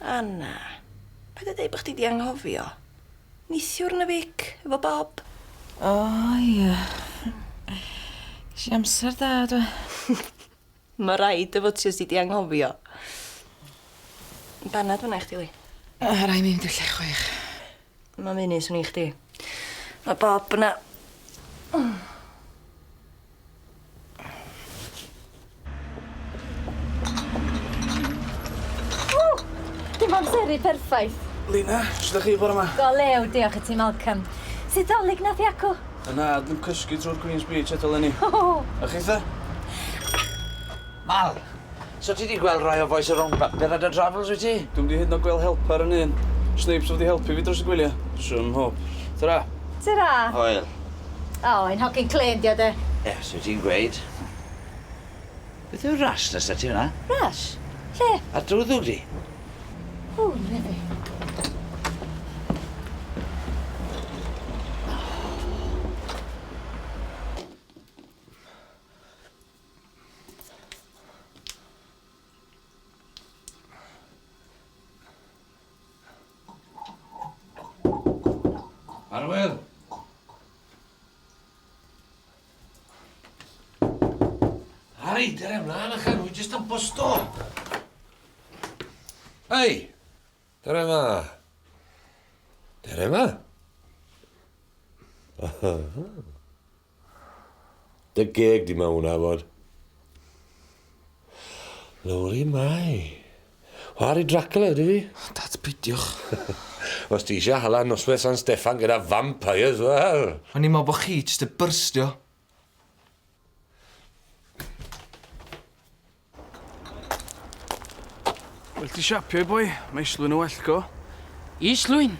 Anna, paid a deud bo' chdi 'di anghofio. Neithiwr yn y Vic efo Bob. O ia. Gesh i amsar da do? Ma' raid dy fod ti os ti 'di anghofio. Banad fynna i chdi Lee. O rai mi mynd i'r lle chwaith. Mam Enid swn i i chdi. Ma' Bob yna. Dim amseru perffaith. Lina, sut ydych chi bore yma? Go lew, diolch i ti, Malcolm. Sut dolyg nath i acw? Yna, dwi'n cysgu trwy'r Queen's Beach eto leni. Hohoho! A chitha? Mal! So ti 'di gweld rai o bois y Rownd Bapur a dy Drafls wyt ti? Dwi'm 'di hyd yn o'd gweld helper yn un. Snipes wedi helpu fi dros y gwylie. Swm hwp. Tara. Tara. Hwyl. O, ein hogyn clên 'di o de. Yes, wyt ti'n gweud. Beth yw'r rash nes 'da ti fynna? Rash? Lle? Ar dy ddwg di. O, na fe. Arwyl! Harry, dyr e mlaen a chan, jyst yn bosto. Hei, dyr e ma. Dyr e ma. Dy geg di mewn nafod. Lowri mai. Whar i Dracula ydy fi. Dad, peidiwch. Os ti eisiau hala noswaith San Steffan gyda vampires, wel! O'n i'n meddwl bod chi jyst 'di byrstio. Well ti siapio i boi, mae islwyn yn well go. Islwyn?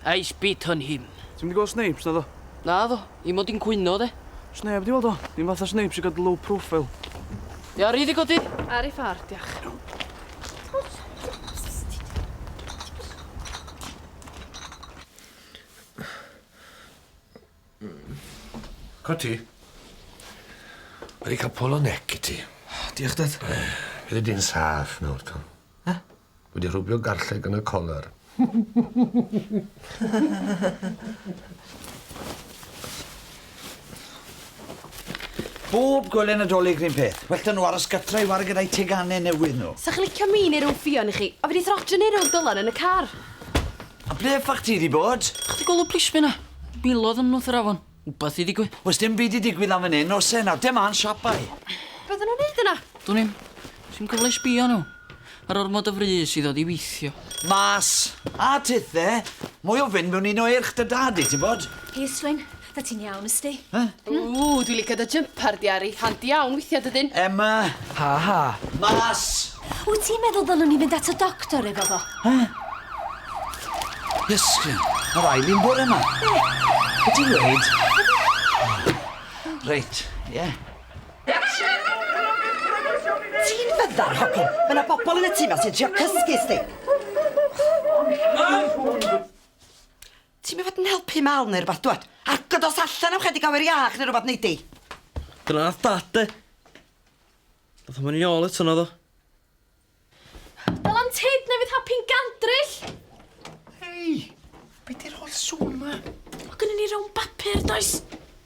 I spit on him. Ti'n mynd i gweld Snapes na ddo? Na ddo, i mod i'n cwyno de. Os neb di weld o, ni'n fath o Snapes i gael low profile. Di ar i ddi godi? Ar i ffar, diach. Cwt ti? Wedi cael polo nec i ti. Diolch, Dad. Fyddi di'n saff nawr, Tom. He? Wedi rhwbio garlleg yn y colar. Bob gwely Nadolig rhywun peth. Well da nhw aros gytra i wario gyda'i teganau newydd nhw. Sa chi licio mi neu rhyw ffion i chi? O fi di throtio neu rhyw dylan yn y car. A ble ffach ti di bod? Chdi gwel y plismyn na? Milodd yn nwth yr afon. Wbath di digwydd. Wel sdim byd di digwydd lan fan 'yn o's e? Nawr dem mlan siap boi. Be odda nw'n neud yna? Dwn i'm. Sim cyfle i sbio arnyn nhw. Ma'r ormod o frys i ddod i weithio. Mas! A tithe! Mwy o fynd mewn un o eirch dy dad di, ti'n bod? Plis, Wyn. Da ti'n iawn, ysti? Huh? Ww, dwi'n licio dy jympar di, Ari. Handi iawn, weithia dy ddyn. Emma! Ha ha! Mas! Wyt ti'n meddwl ddylwn ni fynd at y doctor efo fo? Ha? Ysgryn, mae rai fi'n bod yma. Be? Be ti'n dweud? Reit, ie. Yeah. Ti'n fyddar, Hopin? Mae yna bobl yn y tîm a sy'n trio cysgu, sti. Mam! Ti'm i fod yn helpu Mal neu rwbath, dwad. Agor dos allan am 'chydig awyr iach neu rwbath, neidi. Dyna nath Dad de. Nath o moyn ôl eto naddo? Dal am tyd neu fydd happy'n gandryll! Hei! Be' 'di'r holl sŵn 'ma? Ma' gynnon ni rown bapur, does?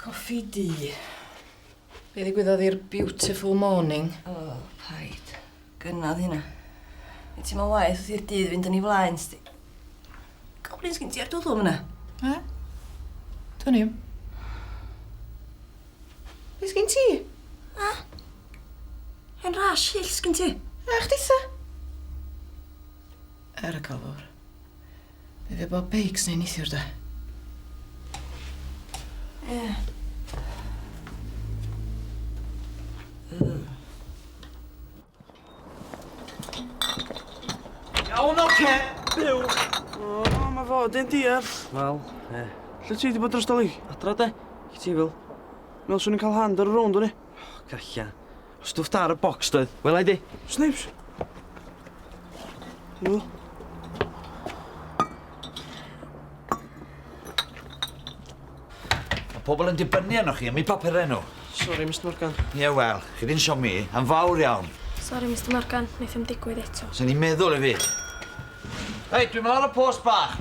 Coffi du. Be ddigwyddodd i'r beautiful morning? O, oh, paid. Gynnodd hynna. Nid ti'n meddwl waith wrth i'r dydd fynd yn ei flaen, sti. Goblins gyn ti ar dwddw fyna. E? Dwi'n i'm. Be sgyn ti? E? Hen ras hyll sgyn ti? E, chdi sa? Er y calwr. Be fe bob beics neu nithiwr da? Ie. Yeah. Iawn, oce, okay. byw. O, oh, mae fo, dyn deall. Wel, ie. Yeah. Lle ti wedi bod dros doli? Adra de, chi ti'n fel. Mewn swn i'n cael hand ar y rownd o'n i. Oh, gallai. Stwff da ar y bocs doedd? Wela i di. Snipes. Helo. Mae pobl yn dibynnu arnoch chi, am i papurau nhw. Sorry, Mr Morgan. Ie, yeah, wel, chi di'n siomi, am fawr iawn. Sorry, Mr Morgan, wnaeth yn digwydd eto. Sa'n ni'n meddwl i fi. Hei, dwi'n mynd ar y post bach.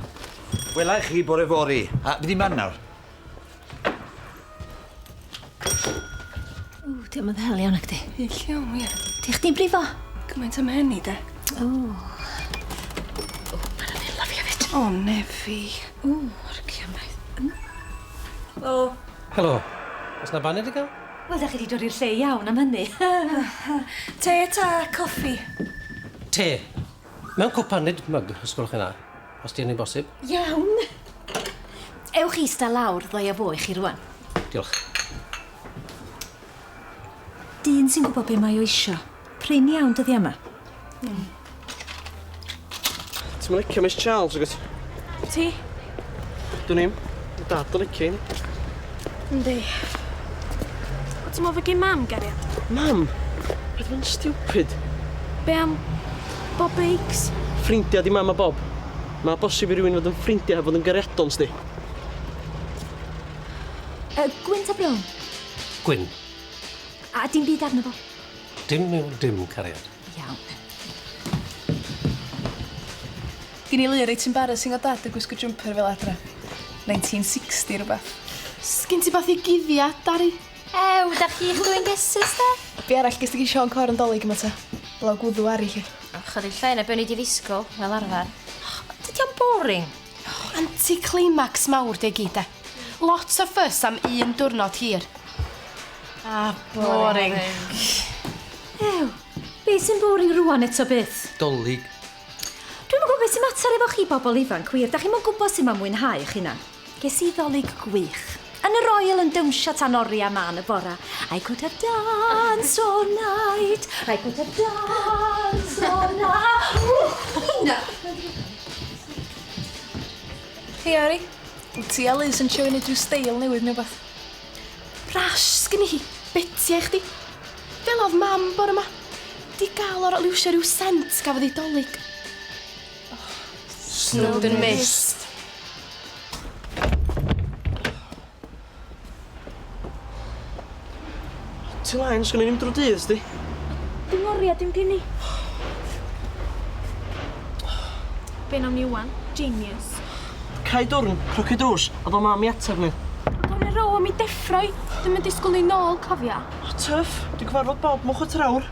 Wela i chi bore fori. A, fi di man nawr. Ww, di o'm yn ddel iawn nacdi? Ie, lle o wir? Di chdi'n brifo? Gymaint am hynny de. Ww. Ww, ma' na ddela fi efyd. O, Nefi. Ww, orcia mlaen. Helo. Helo. O's na baned i gael? Wel, da chi di dod i'r lle iawn am hynny. Te ta coffi? Te. Mewn cwpaned, mug, os gwelwch chi'n dda. os di hynny'n bosib. Iawn! Ewch i ista lawr, ddau a fo i chi rwan. Diolch. Dyn sy'n gwybod be mae o isio. Prin iawn dyddiau yma. Mm. Ti'n licio Miss Charles, agos? Ti? Dwn i'm. Ma dad yn licio un. Yndi. O ti'n me'wl fy gin mam gario? Mam? Paid fod yn stupid. Be' am Bob Bakes? Ffrindia di mam a Bob. Ma' bosib i rywun fod yn ffrindia heb fod yn gariadon sdi. Yy gwyn ta brown? Gwyn. A dim byd arno fo? Dim yw dim cariad. Iawn. Gin i lu reit embarrassing o dad yn gwisgo jumper fel adra. 1960 rhywbeth. Sgin ti fath i guddia, Dari? Ew, da chi'ch dwi'n gesus da? Be arall gysdi gin Sean Cor yn dolyg yma ta? Blaw gwddw ari chi. Ychydig llai na be o'n i di ddisgwyl, fel arfer. Dydy o'n boring. Anti-climax mawr 'di e gyd 'de? Lot o fuss am un diwrnod hir. A boring. Ew, be' sy'n boring rŵan eto byth? 'Dolig. Dwi'm yn gwybod beth sy'n mater efo chi bobl ifanc wir, 'dach chi'm yn gwybod sut mae mwynhau eich hunan. Ges i 'Ddolig gwych. Yn y Royal yn dawnsio tan oriau man y bora. I could have dance all night. I could have dance all night. Nina! Hei, Ari. Wyt ti a Liz yn trio i wneud rhyw steil newydd neu beth? Rash, sgynni hi. Beti ai chdi. Fel oedd mam bore ma. Di gael o'r liwsio rhyw sent gafodd ei dolyg. Snowdon Mist. Ti lain, sgwn i ddim drwy dydd, sdi? Dim oria, dim gen i. Be'n am ni wan? Genius. Cai dwrn, croci drws, a do mam i ateb ni. Ond o'n i row am i deffroi, dim yn disgwyl ni nôl, cofia. Tuff, dwi'n cyfarfod Bob mwch y trawr.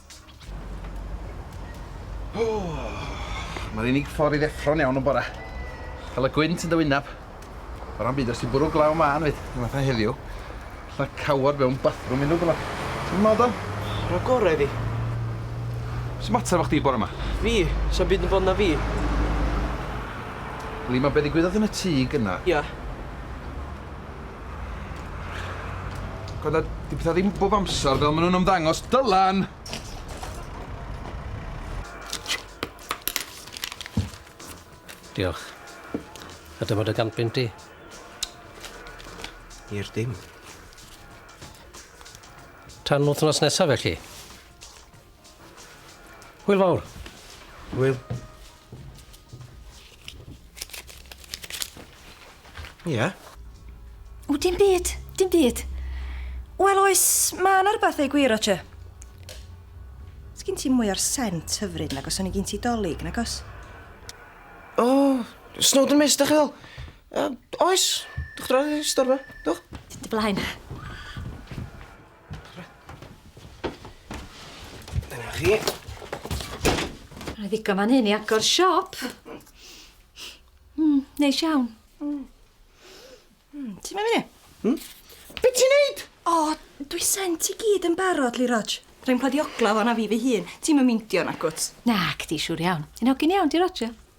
Mae'r unig ffordd i ddeffro'n iawn yn bora. Cael y gwynt yn dy wyneb. O ran byd, os ti'n bwrw glaw mân fyd, yn fatha heddiw, lla cawod mewn bathroom unrhyw bla. Ti'n meddwl dan? Yr o gorau iddi. Sy'n mater efo chdi bore yma? Fi? Sa'n byd yn bod na fi. Lima, be ddigwyddodd yn y tŷ gynna? Ia. God a 'di petha ddim bob amsar fel ma' nw'n ymddangos Dylan! Diolch. A dyma dy gant bunt di. I'r dim. Tan wthnos nesa felly. Hwyl fawr. Hwyl. Ie? Yeah. O, dim byd, dim byd. Wel oes, mae yna rhywbeth ei gwir, Roger. Sgyn ti mwy o'r sent hyfryd nag os o'n i gyn ti dolyg, nag os? O, oh, Snowden Mist, da chi ddol? Uh, oes, dwch droi, storfa, dwch. Dy blaen. Dyna chi. Mae'n ddigon fan hyn i agor siop. Mm, neis iawn. Mm. Mm, ti'n mynd i? Hmm? Be ti'n neud? O, oh, dwi sent i gyd yn barod, Lee Rog. Rwy'n pledi ogla fo na fi fy hun. Ti'n mynd meindio na gwt? Nac, di siwr iawn. Yn ogyn iawn, di Roger.